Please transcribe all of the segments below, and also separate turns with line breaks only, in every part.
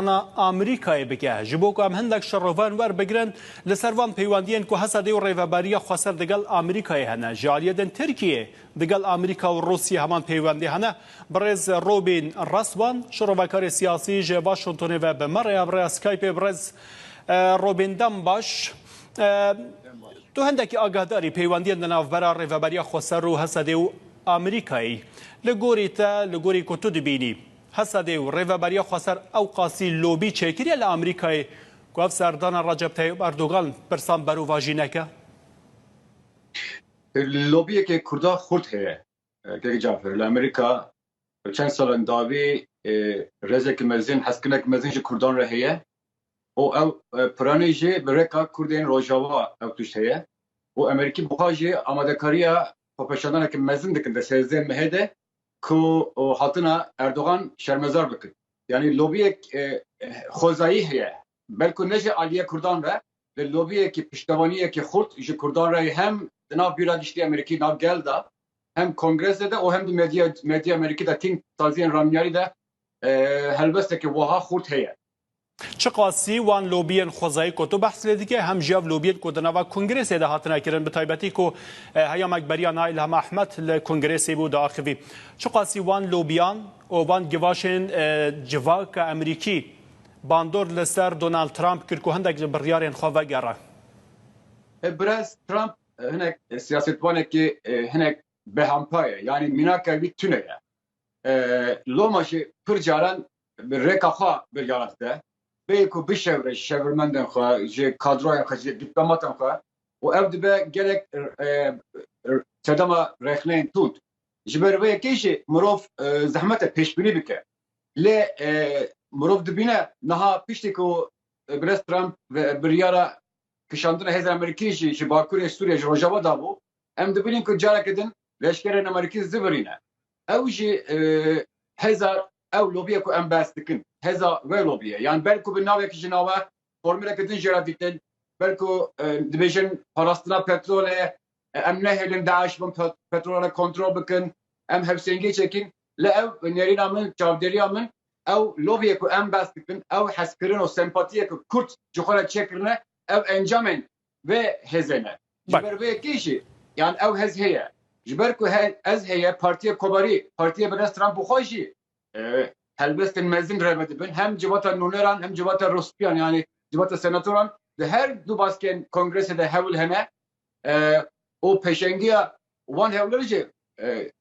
Hevpeyvana Amerîkayê bike ji bo ku em hindek şerovan werbigirin li ser van peywendiyên ku Hesedê û rêveberiya xweser digel Amerîkayê hene ji aliyê din Tirkiyê digel Amerîka û Rûsyê heman peywendî hene birêz Robîn Restwan şirovekarê siyasî ji Waşingtonê ve bi me re ya bi rêya Skypê birêz Robîn dem baş Tu hindekî agahdarî peywendiyên di navbera rêveberiya xweser û Hesedê û Amerîkayê li gorî te li gorî ku tu dibînî Hesedê û Rêveberiya Xweser ewqasî lobî çêkiriye li Amerîkayê ku ev serdana Recep Teyib Erdogan pirsan berovajî neke? Lobiyeke Kurda xurt heye. Keke Cafer, li Amerîka bi çend salan dawî rêzeke mezin, hezkirineke mezin ji Kurdan re heye û ew piranî jî bi rêka Kurdên Rojava ew tişt heye û Amerîkî bi xwe jî amadekariya xwepêşandaneke mezin dikin di sêzdeh mehê de. ku hatina Erdogan şermezar bikin. Yanî lobiyek xwezayî heye. Belku ne ji aliyê kurdan re, li lobiyekî piştevaniyekî xurt ji kurdan re ye hem di nav Bîra Giştî Amerîkî, nav gel de, hem kongrese de û hem di medya medyaya Amerîkî de tîmsaziyên ramyarî de helwesteke wiha xurt heye. Çiqasî wan lobiyên xwezayî ku tu behs lê dikî hem jî ev lobiyên ku di nava kongrêsê de hatine kirin bi taybetî ku heya me beriya na Îlham Ahmed li kongrêsê bû diaxivî. Çiqasî wan lobiyan û van givaşên civaka Emerîkî bandor li ser Donald Trump kir ku hindek ji biryarên xwe vegere. Birêz Trump hinek siyasetvanekî hinek behampaye yanî mînaka wî tune ye. Loma jî pir caran bi rêka xwe biryaran dide, bêyî ku bişewire şevirmendên xwe, ji kadroyên xwe, ji dîplomatên xwe û ev dibe gelek sedema rexneyên tund. Ji ber vê yekê jî mirov zehmet e pêşbînî bike. Lê mirov dibîne niha piştî ku Birêz Trump biryara kişandina hêzên Amerîkî jî ji bakurê Sûriyê, ji rojava dabû, em dibînin ku careke din leşkerên Amerîkî zivirîne. Ew jî hêza Ew lobîyê ku em behs dikin hêza wê lobîye yan ber ku bi navek ji nawe formuleke din jê re dîtin ber ku dibêjin parastina petrolê ye em nehêlin DAIŞ bin petrola re kontrol bikin em hewsengiyê çekîn lê ew nêrîna min çavdêriya min ew lobîyê ku em behs dikin ew hezkirin û sempatiyê ku kurd ji xwe re çêkirine ew encamên vê hêzê ne. Ji ber vê yekê jî yan ew hez heye. Ji ber ku hez heye Partiyê Komarî, Partiyê bi rest ran bi xwe jî helbestên mezin re vedibin. Hem civata nûneran hem civata rûspiyan yanî civata senatoran di her du baskên kongresê de hewil hene û pêşengiya wan hewlêr jî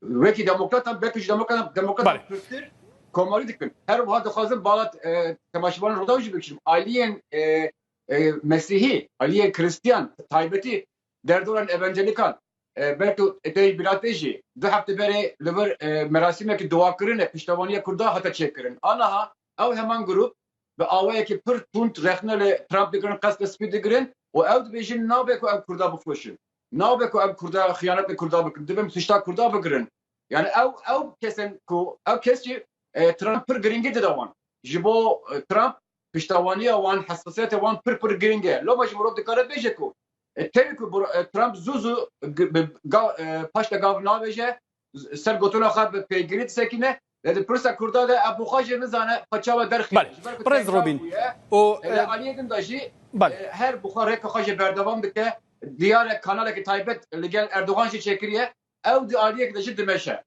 wekî demokratan belkî ji demokratan demokratan pirtir komarî dikin. Her wiha dixwazin bala temaşevanên Rûdaw jî bikişin. Aliyên Mesîhî, aliyên Krîstiyan bi taybetî derdoran Evancelikan Berto Dei Birate jî du hefte berê li vir merasîmeke duakirine piştevaniya Kurdan hate çêkirin. Aniha ew heman grûp bi awayekî pir tund rexne li Trump digirin, qesde spî digirin û ew dibêjin nabe ku em Kurda bixweşin, nabe ku em Kurda xiyanet li Kurda bikin, dibe em suçta Kurda bigirin. Yanî ew ew kes in ku ew kes jî Trump pir girîngî dide wan. Ji bo Trump Piştevaniya wan, hessasiyetê wan pir pir girîng e. Loma jî mirov dikare bêje ku tevî ku Trump zû zû paşta gav navêje, ser gotina xwe bi pêgirî disekîne, lê di pirsa Kurda de ev xwe jî nizane xwe çawa derxîne. Ji ber ku tengran bûye, li aliyê din de jî her bi xwe rêka xwe jê berdewam dike. Diyar e kanaleke taybet li gel Erdogan jî çêkiriye. Ew di aliyekê de jî dimeşe.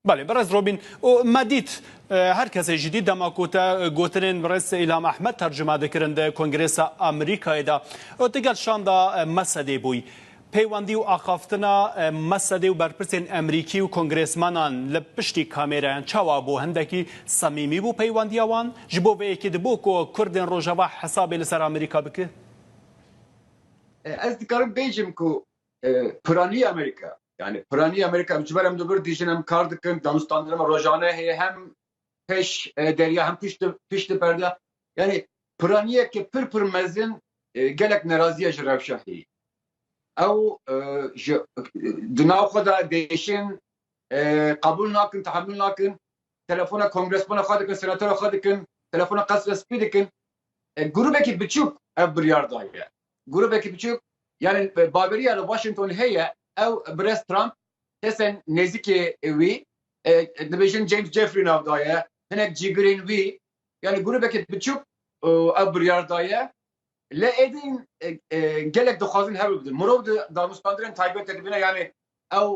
Belê berez Robîn û me dît her kesê jî dît dema ku te gotinên birêz Îlham Ehmed tercuma dikirin di Kongresa Amerîkayê de û tu gel şanda Mesedê bûyî. Peywendî û axaftina Mesedê û berpirsên Amerîkî û kongrêsmenan li piştî kamêrayan çawa bû? Hindekî semîmî bû peywendiya wan? Ji bo vê yekê dibû ku kurdên rojava hesabê li ser Amerîka bike? Ez dikarim bêjim ku piraniya Amerîka Yani Piraniye Amerika em ji ber em li vir dijin em kar dikin danûstandina me rojane heye hem peş e, derya hem pişt pişt perde yani piraniyeke pir pir mezin e, gelek neraziye ji rewşa heye ew e, ji di nav xwe de dêşin e, qebûl nakin tehamül nakin telefona kongresmana xwe dikin senatora xwe dikin telefona qesre spî dikin e, grûbekî biçûk ev biryar daye Grûbekî biçûk yanî baveriya li Washington heye, ew birêz Trump, kesên nêzîkê wî, dibêjin James Jeffrey nav daye, hinek cîgirên wî, yanî grûbekî biçûk ew biryar daye. Lê êdîn gelek dixwazin hewl bidin. Mirov di danûstandirên taybet de dibîne, yanî ew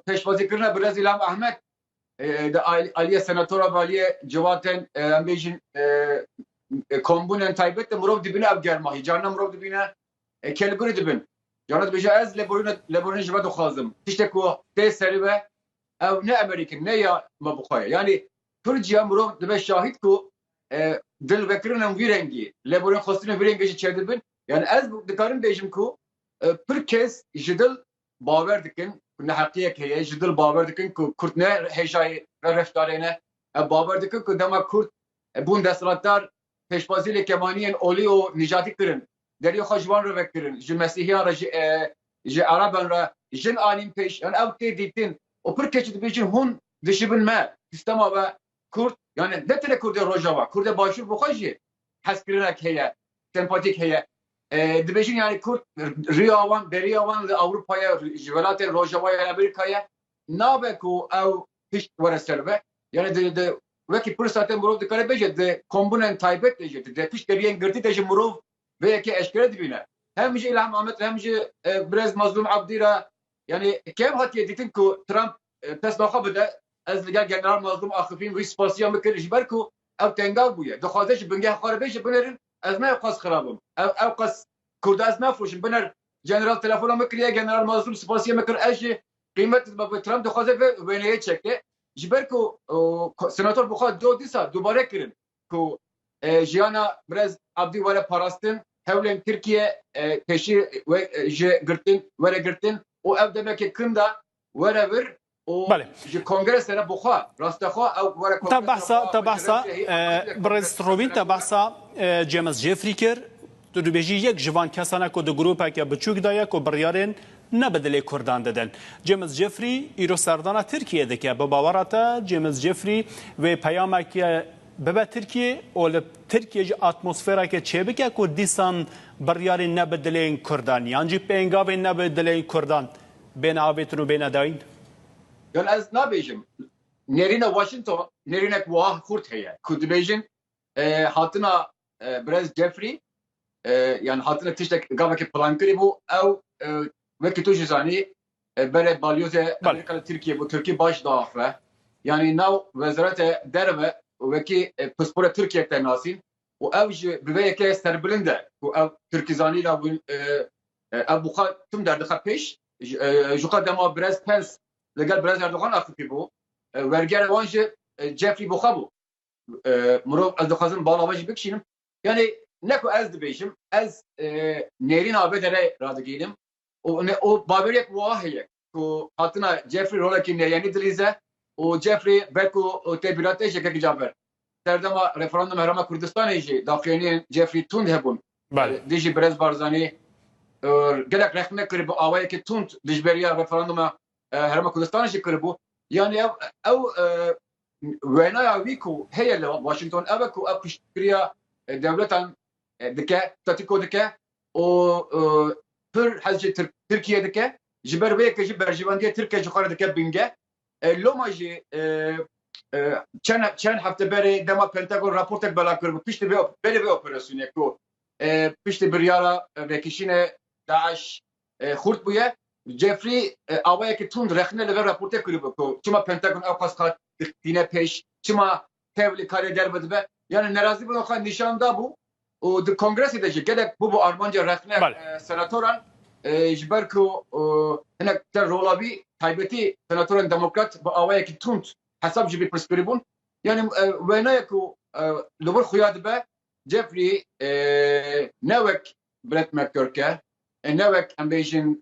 pêşwazîkirina birêz Îlham Ahmed Di aliyê senatora valiyê Cevat de em bêjin kombûnen taybet de mirov dibîne ev germahî. Carina mirov dibîne kelgûnê dibin. Carina dibêje ez lêborîna ji we dixwazim. Tiştek ku tê serê ve ew ne emerîk in, ne ya me bi xwe ye. Yanî Tirkiye mirov dibe şahîd ku dil vekirin em vî rengî, lêborîn xwestinên vî rengî jî çêdibin. Yanî ez dikarim bêjim ku pir kes ji dil bawer dikin ku neheqiyek heye, ji dil bawer dikin ku Kurd ne hêjayê reveftarê ne. Ev bawer dikin ku dema Kurd bûn desthilatdar pêşwazî li kemaniyên olî û nîjadî kirin, deriyê xwe ji wan re vekirin, ji mesîhiyan re, ji ji ereban re jin anîn pêş. Yan ew tê dîtin û pir keçî dibêjin hûn dişibin me, sistema we Kurd yani ne tenê Kurdê Rojava, Kurdê Başûr bi xwe jî hezkirinek heye, sempatîk heye. Dibêjin yani Kurd riya wan, beriya wan li Ewropa ye, ji welatên Rojava ya Amerîka ye. Nabe ku ew pişt were ser ve. Yani di di wekî pirsa te mirov dikare bêje di kombûnên taybet de jî di piştgiriyên girtî de jî mirov vê yekê eşkere dibîne. Hem ji Îlham Amed re hem ji Birêz Mazlûm Abdî re yani kêm hatiye dîtin ku Trump Pesna xwe bide, ez li gel General Mazlûm axifîm wî spasiya min kir ji ber ku ew tengav bûye. Dixwaze ji bingeh xwe re bêje binerin, ez nayê qas xira bim. Ew ew qas Kurd ez nafoşim, biner. General telefona min kiriye, General Mazlûm spasiya min kir, ez jî qîmet didim. Ev Trump dixwaze vê wêneyê çeke ji ber ku Senator bixwe do dîsa dubare kirin ku jiyana Birêz Abdî were parastin, hewlên Tirkiye pêşî wê ji girtin were girtin û ew demeke kin da Were vir û Belê. ji kongresê re bixwe. Rastexwe ew were Te kongresê re behsa, xwe te xwe ji behsa rencê hê e, aqil e Birêz kongresê xwe Robîn, te binebû. behsa e, James Jeffrey kir. Tu dibêjî yek ji van kesan e ku di grûpeke biçûk de ye ku biryarên ne bi dilê Kurdan didin. James Jeffrey îro serdana Tirkiyeyê dike. Bi bawera te James Jeffrey wê peyameke bibe Tirkiyeyê û li Tirkiyeyê jî atmosfereke çêbike ku dîsan biryarên ne bi dilên Kurdan yan jî pêngavên ne bi dilên Kurdan Bêne avêtin û bêne dayîn. Gel ez nabêjim nêrîna Washington nêrînek wiha xurt heye ku dibêjin hatina Birêz Jeffrey yan hatine tiştek gavekê plankirî bû ew wekî tu jî zanî berê balyozê Amerîka li Tirkiyê bû Tirkî baş diaxe yanî nav wezarete derve wekî pispora Tirkiyê te nasîn Û ew ji bi vê yekê serbilind e ku ew Tirkî zanîn a win ev bi xwe tim derdixe pêş ji xwe dema birez Pence li gel birez Erdogan a fikir bû wergera wan jî Jeffrey bi xwe bû mirov ez dixwazim bala me jî bikişînim yanî ne ku ez dibêjim ez nêrîna vê derê radigihînim û baweriyek wiha heye ku hatina Jeffrey rolekî neyênî dilîze û Jeffrey vek û têbîra tê ji Girgican ver. Serdema referandûm Herêma Kurdistanê jî daxuyaniyên Jeffrey tûnd hebûn. Dijî Birêz Barzanî gelek rexne kiribû, awayekî tûnd dijberiya referandûma Herêma Kurdistanê jî kiribû. Yanî ev ew wênaya wî ku heye li Washington ev e ku ev piştgiriya dewletan dike, statîko dike û pir hez ji Tirkiyê dike, ji ber vê yekê jî berjevendiyê Tirkiyê ji xwe re dike bingeh. Loma jî çend hefte berê dema Pentagon raportek belav kiribû piştî vê berê vê operasyonê ku piştî biryara vekişînê DAIŞ xurt bûye, Jeffrey awayekî tund rexne li vê raportê kiribû ku çima Pentagon ewqas qat tîne pêş, çima tevlî karê derve dibe. Yanî nerazîbûna xwe nîşan dabû û di kongresê de jî gelek bûbû armanca rexne senatoran ji ber ku hinek te rola wî taybetî senatorên demokrat bi awayekî tund hesab ji vî pirsgirî bûn. Yanî wêneyek ku li wir xuya dibe Jeffrey ne wek Brett McGurk e, ne wek em bêjin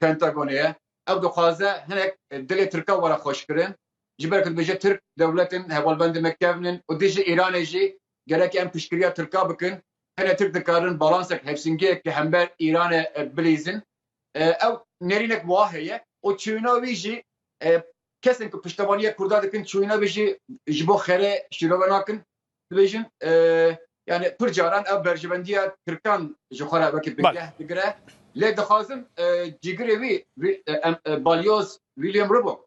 Pentagonê ye. Ew dixwaze hinek dilê Tirka were xweşkirin Ji ber ku dibêje Tirk dewlet in, hevalbendên me kevn in û dijî Îranê jî gerek e em piştgiriya Tirka bikin. Tenê Tirk dikarin balansek hevsingiyek ki hember Îranê bilîzin. Ew nêrînek wiha heye û çûyina wî jî kesên ku piştevaniya Kurda dikin çûyina wî jî ji bo xêrê şîrove nakin. Dibêjin yanî pir caran ew berjevendiya Tirkan ji xwe re wekî bingeh digire. Lê dixwazim cîgirê wî, balyoz William Rubbo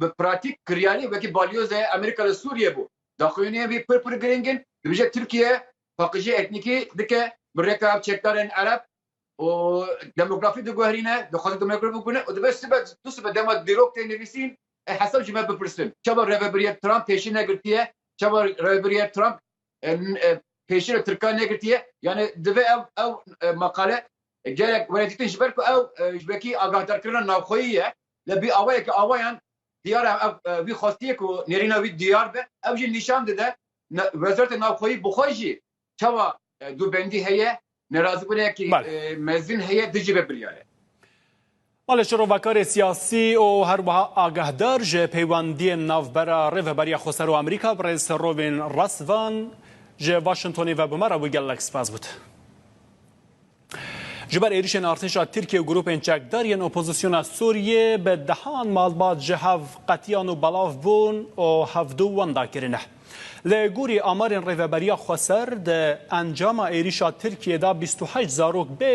Bi pratîk kiryarî wekî balyoze Amerîka li Sûriyê bû. Daxuyaniyên wî pir pir girîng in. Dibêje Tirkiye paqijî etnîkî dike bi rêka çekdarên Ereb û demografî diguherîne, dixwaze demografî bibîne û dibe sibe du sibe dema dîrok tê nivîsîn ê hesab ji me bipirsin. Çawa rêvebirîya Trump pêşî negirtiye? Çawa rêvebirîya Trump pêşî li Tirkan negirtiye? Yanî dibe ew ew maqale gelek were dîtin ji ber ku ew ji wekî agahdar kirina navxweyî ye. Lê bi awayekî awayan diyar e ev wî xwestiye ku nêrîna wî diyar be. Ew jî nîşan dide Wezareta Navxweyî bi xwe jî çawa dûbendî heye, nerazîbûnekî mezin heye dijî vê biryarê. Malê şrovakarê siyasî û her wiha agahdar ji peywendiyên navbera Rêveberiya Xweser û Amerîka birêz Rovên Rastvan ji Washingtonê ve bi me re bû gelek spas bût. Ji ber êrişên artêşa Tirkiye û grûpên çekdar yên opozisyona Sûriyê bi dehan malbat ji hev qetiyan û belav bûn û hevdu wenda kirine. Li gorî amarên Rêveberiya Xweser di encama êrişa Tirkiyê de bîst û heşt zarok bê